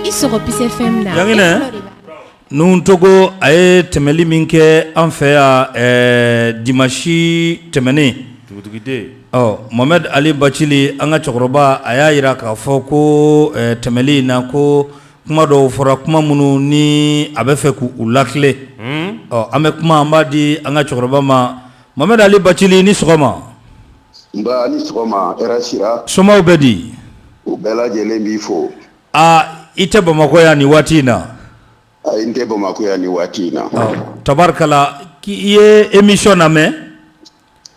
I sɔrɔ Peace FM na nuhun togo a ye tɛmɛli min kɛ an fɛ yan dimasi tɛmɛnen Mohamed Ali Bacili an ka cɛkɔrɔba a y'a jira k'a fɔ ko tɛmɛli in na ko kuma dɔw fɔra kuma minnu ni a bɛ fɛ k' u latilen ɔ an bɛ kuma an b'a di an ka cɛkɔrɔba ma Mohamed Ali bacili ni sɔgɔma nba ni sɔgɔma hɛrɛ sira somaw bɛ di u bɛɛ lajɛlen b'i fo aa i tɛ bamakɔ yan nin waati in na a n tɛ bamakɔ yan nin waati in na tabarikala k' i ye emisɔn lamɛn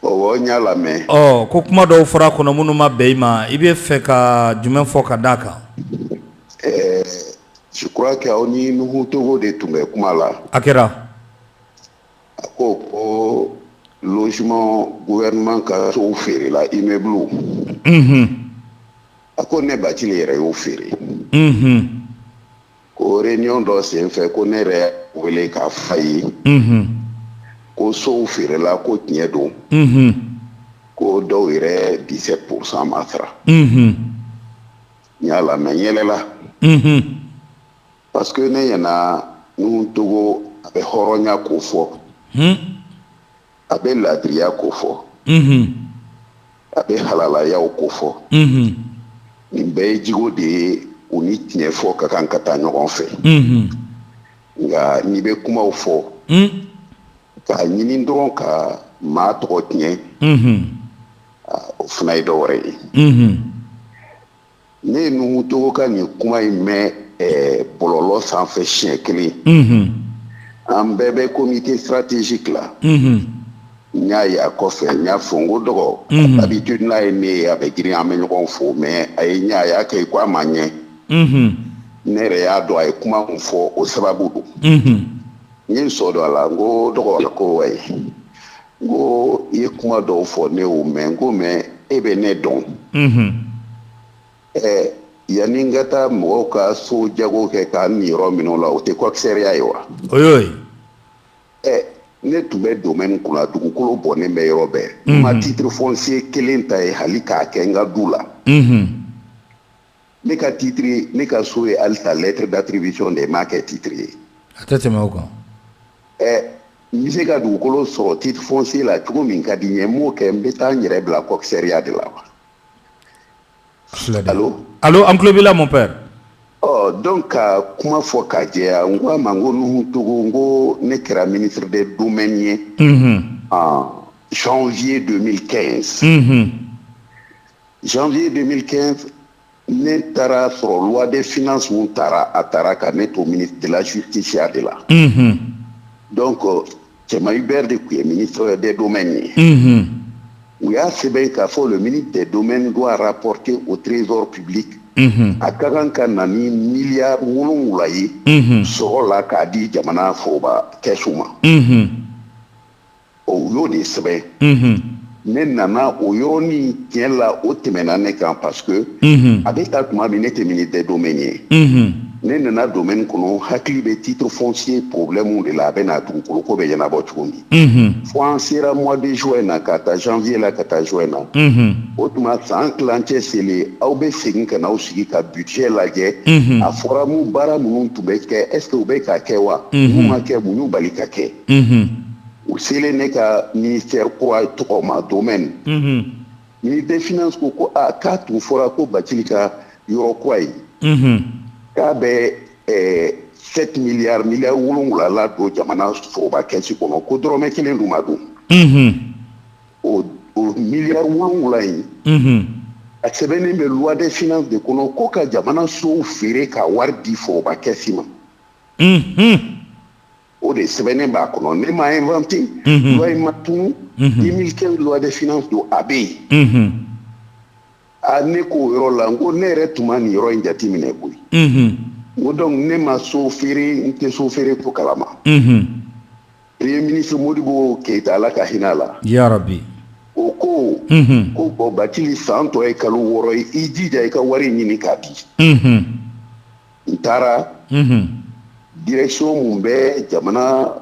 o n y'a lamɛn ɔ ko kuma dɔw fɔra kɔnɔ minnu ma bɛn i ma i bɛ fɛ ka jumɛn fɔ ka d da a kan ɛɛ je crois que aw ni nuhun togo de tun bɛ kuma la a kɛra A ko ko logement gouvernement ka sow feerela immeuble u unhun a ko ne Bacili yɛrɛ y'o feere unhun ko réunion dɔ senfɛ ko ne yɛrɛ y'a wele k'a f'a ye unhun ko sow feerela ko tiɲɛ don unhun ko dɔw yɛrɛ 17 pourcent ma sara unhun n y'a lamɛn n yɛlɛla unhun parce que ne ɲɛna nuhun togo a bɛ hɔrɔnya ko fɔ hmm. a bɛ laadiriya ko fɔ hmm. a bɛ halalayaw ko fɔ hmm. nin bɛɛ ye jigo de ye u ni tiɲɛ fɔ ka kan ka taa ɲɔgɔn fɛ nka n'i bɛ kumaw fɔ k'a ɲini dɔrɔn ka maa tɔgɔ tiɲɛ o fana ye dɔ wɛrɛ ye ne ye nuhun togo ka nin kuma in mɛn eh, bɔlɔlɔ sanfɛ siɲɛ kelen mhm. an bɛɛ bɛ comité stratégique la mhm. n y'a ye a kɔfɛ n y'a fɔ n ko dɔgɔ mhm. habitude n'a ye ne ye a bɛ girin an bɛ ɲɔgɔn fo mais a ye n ye a y'a kɛ i ko a ma n ye ne yɛrɛ y'a dɔn a ye kuma min fɔ o sababu don n ye n sɔ don a la n ko dɔgɔ ko wayi n ko i ye kuma dɔw fɔ ne y'o mɛn n ko mais e bɛ ne dɔn ɛɛ yanni n ka taa mɔgɔw ka so jago kɛ ka n niyɔrɔ minɛ o la o tɛ kɔkisɛriya ye wa o y'o ye ɛ ne tun bɛ domaine kunna dugukolo bɔnnen bɛ yɔrɔ bɛɛ n ma titre foncier kelen ta yen hali k'a kɛ n ka du la ne ka titre ne ka so ye halisa lettre d'attribution de ye m'a kɛ titre ye a tɛ tɛmɛ o kan ɛ n bɛ se ka dugukolo sɔrɔ titre foncier la cogo min ka di n ye n b'o kɛ n bɛ taa n yɛrɛ bila coxeria de la wa allo allo an tulo b'i la mon père ɔ donc ka kuma fɔ ka jɛya n ko a ma n ko nuhu togo n ko ne kɛra ministre des domaines ye en janvier 2015 Janvier 2015 ne taara sɔrɔ loi des finances min tara a tara ka ne to ministre de la justice ya de la unhun donc Cɛman Hubert de tun ye ministre des domaines ye unhun u y'a sɛbɛn k'a fɔ le ministre des domaines doit rapporter au trésor public unhun a ka kan ka na ni miliyari wolonwula ye unhun sɔrɔ la k'a di jamana foroba kɛsu ma unhun ɔ u y'o de sɛbɛn mhm. ne nana o yɔrɔnin tiɲɛ la o tɛmɛna ne kan parce que mhm. a bɛ ta tuma min ne tɛ ministre des domaines ye mhm. ne nana domaine kɔnɔ hakili bɛ titre foncier problème de la a bɛ na dugukolo ko bɛ ɲɛnabɔ cogo min fo an sera mois de juin na k'a ta janvier la ka taa juin na o tuma san tilancɛ selen aw bɛ segin ka na aw sigi ka budget lajɛ a fɔra mu baara minnu tun bɛ kɛ est ce que u bɛ ka kɛ wa mun ma kɛ mun y'u bali ka kɛ u selen ne ka ministère kura tɔgɔ ma domaine ministre des finances ko ko aa k'a tun fɔra ko batili ka yɔrɔ kura ye k'a bɛ sept milliards miliyari wolonwula ladon jamana foroba kɛsi kɔnɔ ko dɔrɔmɛ kelen dun ma don o miliyari wolonwula in a sɛbɛnnen bɛ loi des finances de kɔnɔ ko ka jamana sow feere ka wari di foroba kɛsi ma o de sɛbɛnnen b'a kɔnɔ ne m'a inventer unhun loi in ma tunu unhun 2015 loi des finances don a bɛ yen unhun a ne k'o yɔrɔ la n ko ne yɛrɛ tun ma nin yɔrɔ in jateminɛ koyi unhun n ko donc ne ma so feere n tɛ so feere ko kalama unhun premier ministre modibo keyita ala ka hinɛ a la yarabi o ko unhun ko bon batili san tɔ ye kalo wɔɔrɔ ye i jija i ka wari ɲini k'a di unhun n taara direction min bɛ jamana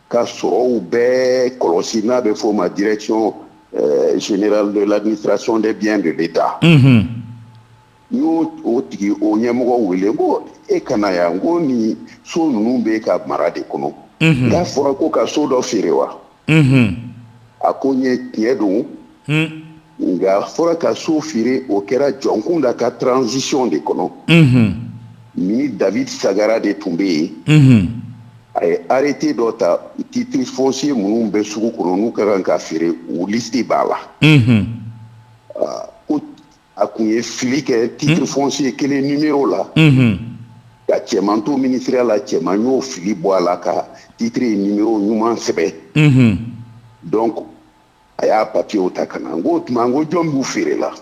ka sɔrɔw bɛɛ kɔlɔsi n'a bɛ f'o ma direction euh, générale de l'administration des biens de l'État n y'o o tigi o ɲɛmɔgɔ wele n ko e ka na yan n ko nin so ninnu b'e ka mara de kɔnɔ n k'a fɔra ko ka so dɔ feere wa a ko n ye tiɲɛ don nka a fɔra ka so feere o kɛra jɔnkunda ka transition de kɔnɔ ministre david sagara de tun bɛ yen a ye arrêté dɔ ta titre foncier minnu bɛ sugu kɔnɔ n'u ka kan ka feere u liste b'a la a kun ye fili kɛ titre foncier kelen numéro la ka cɛman to ministère la cɛman y'o fili bɔ a la ka titre numéro ɲuman sɛbɛn donc a y'a papier ta ka na n k'o tuma n ko jɔn b'u feere la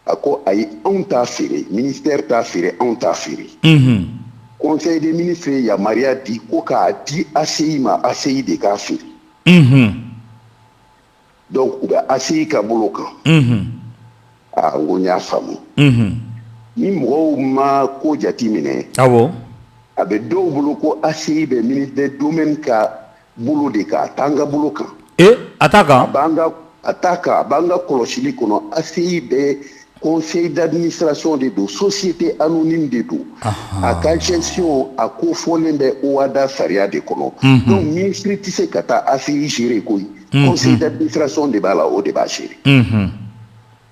a ko ayi anw t'a feere ministère t'a feere anw t'a feere conseil des ministres ye yamaruya di ko k'a di ACI ma ACI de k'a feere donc u bɛ ACI ka bolo kan. Unhun. Aa n ko n y'a faamu. Unhun. Ni mɔgɔw ma ko jate minɛ. Awɔ. A bɛ dɔw bolo ko ACI bɛ ministre des domaines ka bolo de kan, a t'an ka bolo kan. Ee a t'a kan? A b'an ka a t'a kan, a b'an ka kɔlɔsili kɔnɔ ACI bɛ conseil d'administration de don société anonyme de don a ka gestion a ko fɔlen bɛ OHADA sariya de kɔnɔ mhm. donc ministre tɛ se ka taa ACI gérer koyi mhm. conseil d'administration de b'a la o de b'a gérer mhm.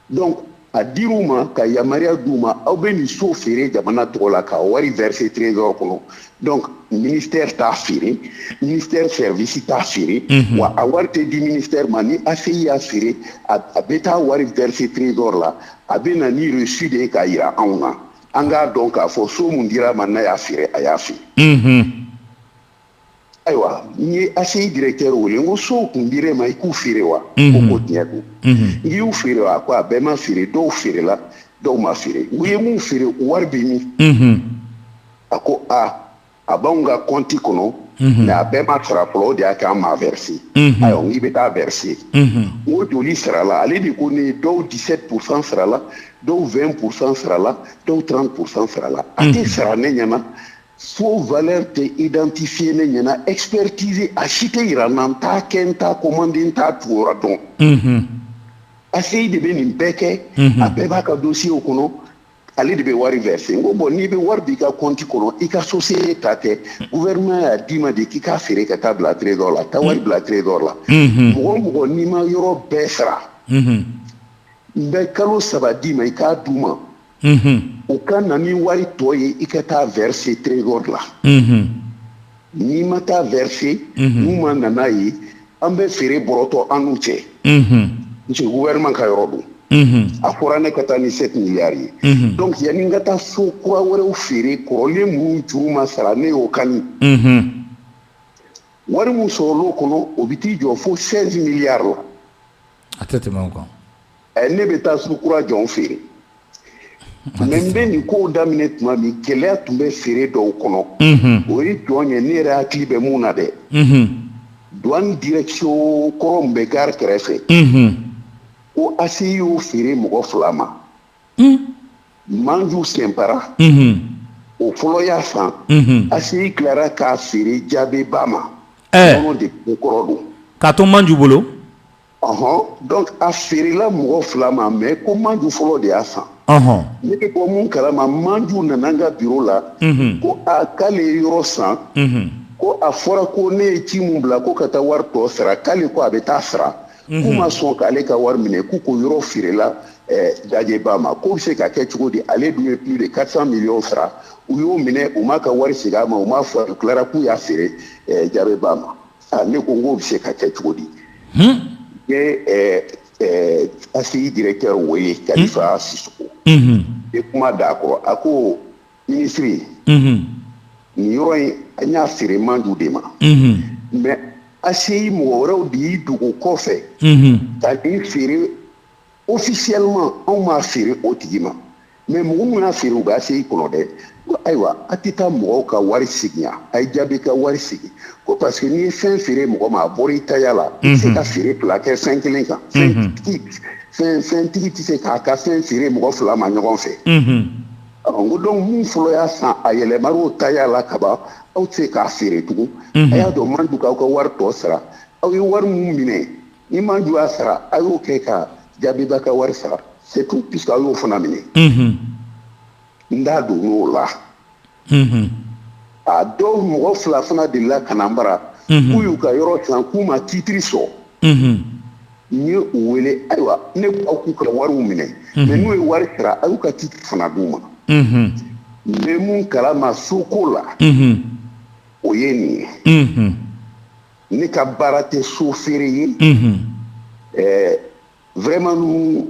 donc a dir'u ma ka yamaruya d'u ma aw bɛ nin so feere jamana tɔgɔ la ka wari verser trésor kɔnɔ donc ministère t'a feere ministère service t'a feere mhm. wa a wari tɛ di ministère ma ni ACI y'a feere a bɛ taa wari verser trésor la a bɛ na ni reçu de ye k'a yira anw na an k'a dɔn k'a fɔ so mun dir'a ma n'a y'a feere a y'a feere. Mhm. ayiwa n ye ACI directeur wele n ko sow kun dir'e ma i k'u feere wa. ko mhm. ko tiɲɛ don. n k'i y'u feere wa a ko a bɛɛ ma feere dɔw feerela dɔw ma feere u ye mun feere wari bɛ min. a ko a a b'anw ka compte kɔnɔ mhm. mais a bɛɛ ma sara fɔlɔ o de y'a kɛ an m'a verser mhm. ayiwa n k'i bɛ taa verser mhm. n ko joli sarala ale de ko ne dɔw 17 pourcent sarala dɔw 20 pourcent sarala dɔw 30 pourcent sarala a tɛ sara ne ɲɛna so valeur tɛ identifier ne ɲɛna expertise a si tɛ yira n na n t'a kɛ n t'a commander n t'a tugura dɔn ACI de bɛ nin bɛɛ kɛ a bɛɛ b'a ka dossier kɔnɔ ale de bɛ wari verser n ko bon n'i bɛ wari b'i ka compte kɔnɔ i ka société ta tɛ gouvernement y'a d'i ma de k'i k'a feere ka taa bila trésor la taa wari bila trésor la mɔgɔ o mɔgɔ n'i ma yɔrɔ bɛɛ sara n bɛ kalo saba d'i ma i k'a d'u ma u ka na ni wari tɔ ye i ka taa verser trésor la N'i ma taa verser n'u ma na n'a ye an bɛ feere bɔrɔtɔ an n'u cɛ parce que gouvernement ka yɔrɔ don a fɔra ne ka taa ni 7 milliards ye donc yanni n ka taa so kura wɛrɛw feere kɔrɔlen minnu juru ma sara ne y'o kani wari min sɔrɔl'o kɔnɔ o bɛ t'i jɔ fo 16 milliards la a tɛ tɛmɛ o kan ɛ ne bɛ taa so kura jɔn feere mais n bɛ nin kow daminɛ tuma min gɛlɛya tun bɛ feere dɔw kɔnɔ o ye jɔn ye ne yɛrɛ hakili bɛ mun na dɛ duwan direction kɔrɔ min bɛ gare kɛrɛfɛ ko ACI y'o feere mɔgɔ fila ma Manju Sɛnpara o fɔlɔ y'a san ACI tilara k'a feere Jabeba ma nɔnɔ de ko kɔrɔ don k'a to Manju bolo. ɔhɔn donc a feerela mɔgɔ fila ma mais ko manju fɔlɔ de y'a san ɔhɔn ne bɛ bɔ mun kalama manju nana n ka biro la mhm. ko a k'ale ye yɔrɔ san mhm. ko a fɔra ko ne ye ci mun bila ko ka taa wari tɔ sara k'ale ko a bɛ taa sara k'u mhm. ma sɔn k'ale ka wari minɛ k'u ko yɔrɔ feerela eh, Jajeba ma k'o bɛ se ka kɛ cogo di ale dun ye plus de 400 millions sara u y'o minɛ u m'a ka wari segin a ma u m'a fɔ u tilara k'u y'a feere eh, Jabeba ma Aa ne ko n k'o bɛ se ka kɛ cogo di n ye ACI directeur o ye Kalifa Sisoko ye kuma d'a kɔrɔ a ko minisiri nin yɔrɔ in an y'a feere Manju de ma mais ACI mɔgɔ wɛrɛw de y'i dogo kɔfɛ ka nin feere officiellement anw m'a feere o tigi ma mais mɔgɔ min y'a feere u bɛ ACI kɔnɔ dɛ ko ayiwa a tɛ taa mɔgɔw ka wari segin yan a ye Jabe ka wari segin ko parce que n'i ye fɛn feere mɔgɔ ma a bɔra i taya la i tɛ se ka feere fila kɛ fɛn kelen kan fɛntigi tɛ se k'a ka fɛn feere mɔgɔ fila ma ɲɔgɔn fɛ n ko donc min fɔlɔ y'a san a yɛlɛmara o taya la kaban aw tɛ se k'a feere tugun a y'a to Manju k'aw ka wari tɔ sara aw ye wari min minɛ ni Manju y'a sara a y'o kɛ ka Jabeba ka wari sara c'est tout puisque a y'o fana minɛ n da donn'o la a dɔw mɔgɔ fila fana delila ka na n bara k'u y'u ka yɔrɔ san k'u ma titiri sɔrɔ n ye u wele ayiwa ne aw k'u ka wari minɛ mais n'u ye wari sara a y'u ka titiri fana d'u ma n bɛ mun kalama so ko la o ye nin ye ne ka baara tɛ so feere ye ɛɛ vraiment Nuhun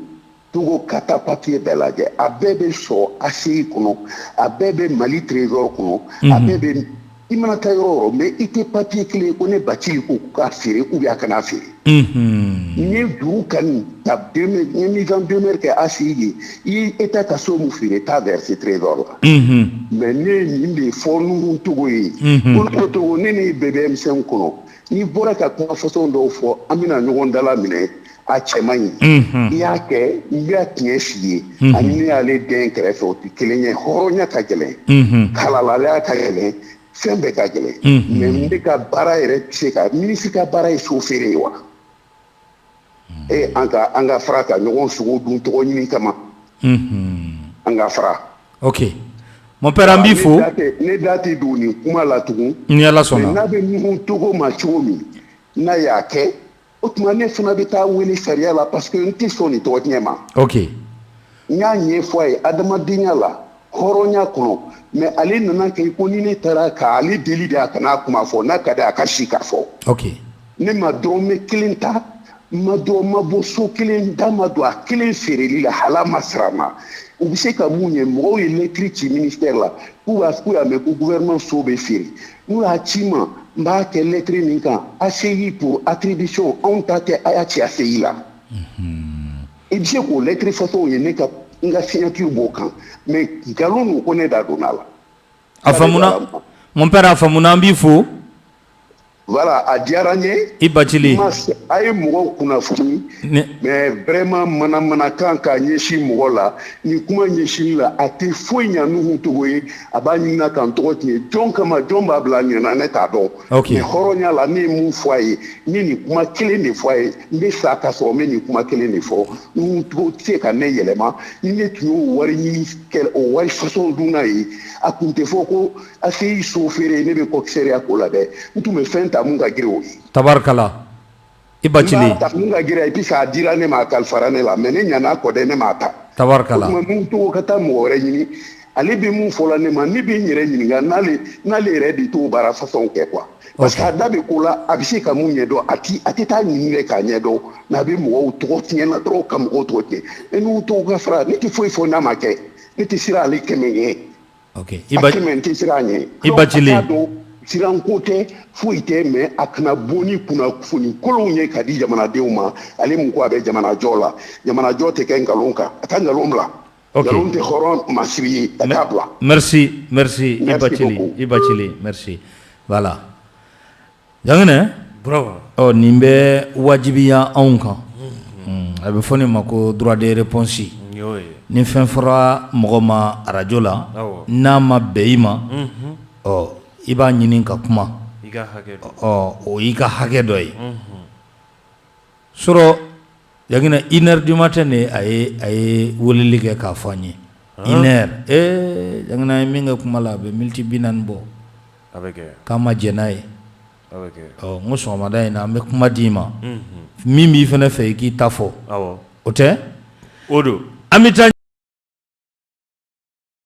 Togo ka taa papier bɛɛ lajɛ a bɛɛ bɛ sɔrɔ ACI kɔnɔ a bɛɛ bɛ Mali trésor kɔnɔ a bɛɛ bɛ i mana taa yɔrɔ o yɔrɔ mais i tɛ papier kelen ye ko ne Bacili ko k'a feere ou bien a kana feere n ye juru kani ta demeure n ye mise en demeure kɛ ACI ye i ye État ka so min feere t'a verser trésor la mais ne ye nin de fɔ Nuhun Togo ye ko Togo ne n'i bɛɛ bɛ M5 kɔnɔ n'i bɔra ka kuma façon dɔw fɔ an bɛna ɲɔgɔn dala minɛ a cɛ man ɲi i y'a kɛ n bɛ tiɲɛ f'i ye ani ne y'ale den kɛrɛfɛ o tɛ kelen ye hɔrɔnya ka gɛlɛn kalalalaya ka gɛlɛn fɛn bɛɛ ka gɛlɛn mais n bɛ ka baara yɛrɛ tɛ se ka minisiri ka baara ye so feere ye wa e an ka an ka fara ka ɲɔgɔn sogo dun tɔgɔ ɲini kama an ka fara ok mon père an b'i fo ne da tɛ don nin kuma la tugun ni ala sɔnna n'a bɛ Nuhu Togo ma cogo min n'a y'a kɛ o tuma ne fana bɛ taa wele sariya la parce que n tɛ sɔn nin tɔgɔ tiɲɛ ma n y'a ɲɛfɔ a ye adamadenya la hɔrɔnya kɔnɔ mais ale nana kɛ ko ni ne taara ka ale deli de a kana a kuma fɔ n'a ka di a ka si k'a fɔ ne ma dɔrɔmɛ kelen ta ma dɔn ma bɔ so kelen da ma don a kelen feereli la hala ma sira ma u bɛ se ka mun ye mɔgɔw ye lɛtiri ci minisitɛri la k'u parce qu'u y'a mɛn ko guvɛrɛnman so bɛ feere n'u y'a ci n ma n b'a kɛ lɛtiri nin kan ACI pour attribution anw ta tɛ a y'a ci ACI la. i bɛ se k'o lɛtiri façon ye ne ka n ka signature b'o kan mais nkalon don ko ne da donna a la. a faamuna mon père a faamuna an b'i fo. voilà a diyara n ye. i bacili. a ye mɔgɔw kunnafoni. mais vraiment manamanakan k'a ɲɛsin mɔgɔ la ni kuma ɲɛsinni la a tɛ foyi ɲa Nuhu Togo ye a b'a ɲinina ka n tɔgɔ tiɲɛ jɔn kama jɔn b'a bila a ɲɛ na ne t'a dɔn. hɔrɔnya la n ye min fɔ a ye n ye nin kuma kelen de fɔ a ye n bɛ sa ka sɔrɔ n bɛ nin kuma kelen de fɔ n tɛ se ka ne yɛlɛma ni ne tun y'o wari ɲinikɛla o wari façon dunna ye a tun tɛ fɔ ko ACI so feere ne bɛ commissariat ko la dɛ n tun bɛ fɛn ta mun ka girin o ye tabarikala i bacili ne ta mun ka girin et puis a dira ne ma a kalifara ne la mais ne ɲana kɔ dɛ ne m'a ta tabarikala o tuma Nuhu Togo ka taa mɔgɔ wɛrɛ ɲini ale bɛ mun fɔla ne ma ne bɛ n yɛrɛ ɲininka n'ale n'ale yɛrɛ de t'o baara façon kɛ quoi parce que a da bɛ ko la a bɛ se ka mun ɲɛdɔn a ti a tɛ taa ɲini dɛ k'a ɲɛdɔn mais a bɛ mɔgɔw tɔgɔ tiɲɛ na dɔrɔn ka mɔgɔw tɔgɔ tiɲɛ e Nuhu Togo ka fara ne tɛ foyi fɔ n'a ma kɛ ne tɛ siran ale kɛmɛ ɲɛ Siranko tɛ foyi tɛ mais a kana bɔ ni kunnafoni kolonw ye ka di jamanadenw ma ale mun ko a bɛ jamanajɔ la jamanajɔ tɛ kɛ nkalon kan a ka nkalon bila nkalon tɛ hɔrɔn masiri ye a k'a bila Jangene ɔ nin bɛ wajibiya anw kan a bɛ fɔ nin ma ko droit de réponse ni fɛn fɔra mɔgɔ ma arajo la n'a ma bɛn i ma ɔ i b'a ɲini ka kuma ɔ o y'i ka hakɛ dɔ ye so Jangene une heure du matin de a ye a ye weleli kɛ k'a fɔ an ye une heure Jangene an ye min kɛ kuma la a bɛ miniti bi naani bɔ k'an ma jɛn n'a ye ɔ n ko sɔgɔmada in na an bɛ kuma d'i ma min b'i fana fɛ i k'i ta fɔ o tɛ o don an bɛ taa